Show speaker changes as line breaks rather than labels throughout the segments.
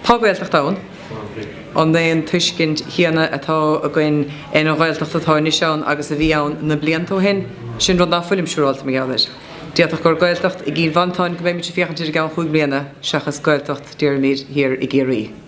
Tá Gaeltacht ann. An é an tuiscint chéanna atá againn ar an Ghaeltacht atá anois ann agus a bhí ann na blianta ó shin? Sin rud ná fuilim siúráilte mar gheall air. D'fhéadfadh gur Gaeltacht i gCill Mhantáin go mbeimid ag féachaint air i gceann chúig mbliana seachas Gaeltacht, déarfaimid, thiar i gCiarraí.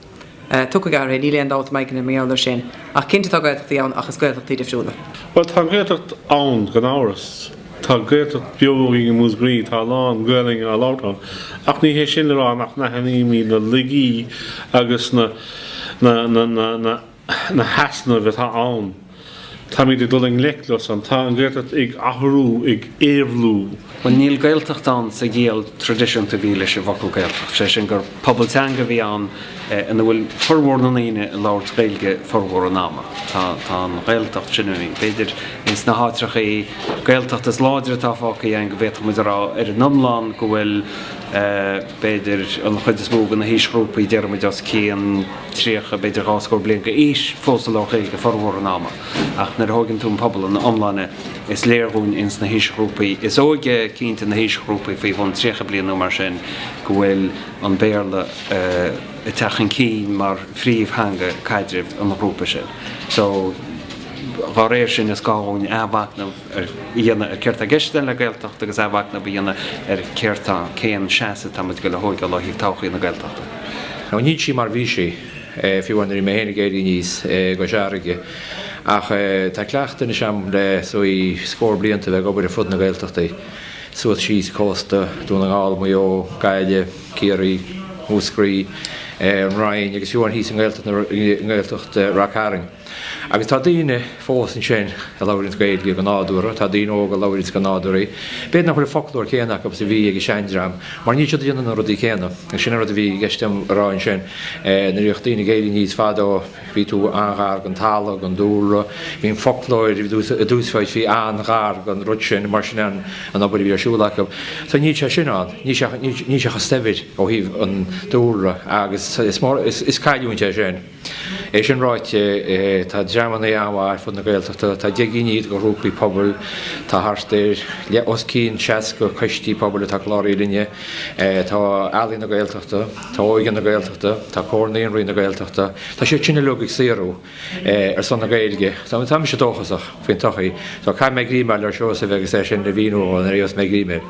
Tiocfaidh athruithe, níl aon dabht i m'aigne mar gheall air sin. Ach cinnte tá Gaeltachtaí ann ach is Gaeltachtaí difriúla. Bhuel, tá an Ghaeltacht
ann, gan amhras. Tá Gaeltacht beo againn i Músgraí, tá a lán Gaelainne á labhairt ann. Ach ní hé sin le rá nach n-aithnímid na laigí agus na, na, na, na, na, na heasnaimh atá ann. Táimid ag dul i ngleic leo san. Tá an Ghaeltacht ag athrú, ag éabhlú. Bhuel, níl Gaeltacht
ann sa gciall tradisiúnta a bhí leis an bhfocal Gaeltacht, sé sin gur pobal teanga a bhí ann ina bhfuil furmhór na ndaoine ag labhairt Gaeilge furmhór an ama. Tá an Ghaeltacht sin, b'fhéidir, ins na háiteachaí Gaeltachta is láidre atá fágtha againn go bhféadfadh muid a rá ar an iomlán go bhfuil, b'fhéidir, an chuid is mó de na haoisghrúpaí, déarfaimid, os cionn. 30, b'fhéidir dhá scór bliain d'aois, fós ag labhairt Gaeilge formhór an ama. Ach nuair a thóigeann tú an pobal ina iomláine, is léir dhúinn ins na haoisghrúpaí is óige, cinnte na haoisghrúpaí faoi bhun 30 bliain nó mar sin, go bhfuil an Béarla ag teacht chun cinn mar phríomhtheanga caidrimh an ghrúpa sin. So, dhá réir sin, is gá dhúinn athmhacnamh. a dhéanamh ar céard tá i gceist le Gaeltacht agus athmhacnamh a dhéanamh ar céard tá, cén seasamh tá muid ag goil a thógáil ó thaobh todhchaí na Gaeltachta. Nó níl sí
mar bhí sí, fiú nuair a bhí mé féin ag éirí aníos i gCois Fharraige, ach tá cleachtadh anois agam le, is dóigh, scór blianta bheith ag obair ar fud na Gaeltachtaí, suas síos cósta, Dún na nGall, Maigh Eo, Gaillimh, Ciarraí, Múscraí, an Rinn agus fiú thíos i nGaeltacht Ráth Chairn. Agus tá daoine fós ansin a labhraíonns Gaeilge go nádúrtha, tá daoine óga a labhraíonns go nádúrtha í. B'fhéidir nach bhfuil an foclóir céanna acu is a bhí ag an seandream, mar níl siad ag déanamh na rudaí céanna. Agus sin an rud a bhí i gceist liom a rá ansin, nuair a bhíodh daoine ag éirí aníos fadó, bhí tú an-ghar don talamh, don dúlra, bhí an foclóir a d'úsáidtí an-ghar don rud sin, mar sin an obair a bhí ar siúl acu. So níl sé sin ann, níl sé, níl sé chomh saibhir ó thaobh an dúlra agus is mór, is cailliúint é sin. É sin ráite, tá dreamanna ann ar fud na Gaeltachta atá ag déanamh iad de ghrúpaí pobail. Tá thart ar, os cionn 60 coistí pobail atá cláraithe linne. Tá Ealaín na Gaeltachta, tá Óige na Gaeltachta, tá Comhar Naíonraí na Gaeltachta, tá siad sin uilig ag saothrú ar son na Gaeilge. Tá mise dóchasach faoin todhchaí. So caithfidh mé greim a fháil ar Seosamh agus é sin a mhíniú dhó nuair a gheobhas mé greim air.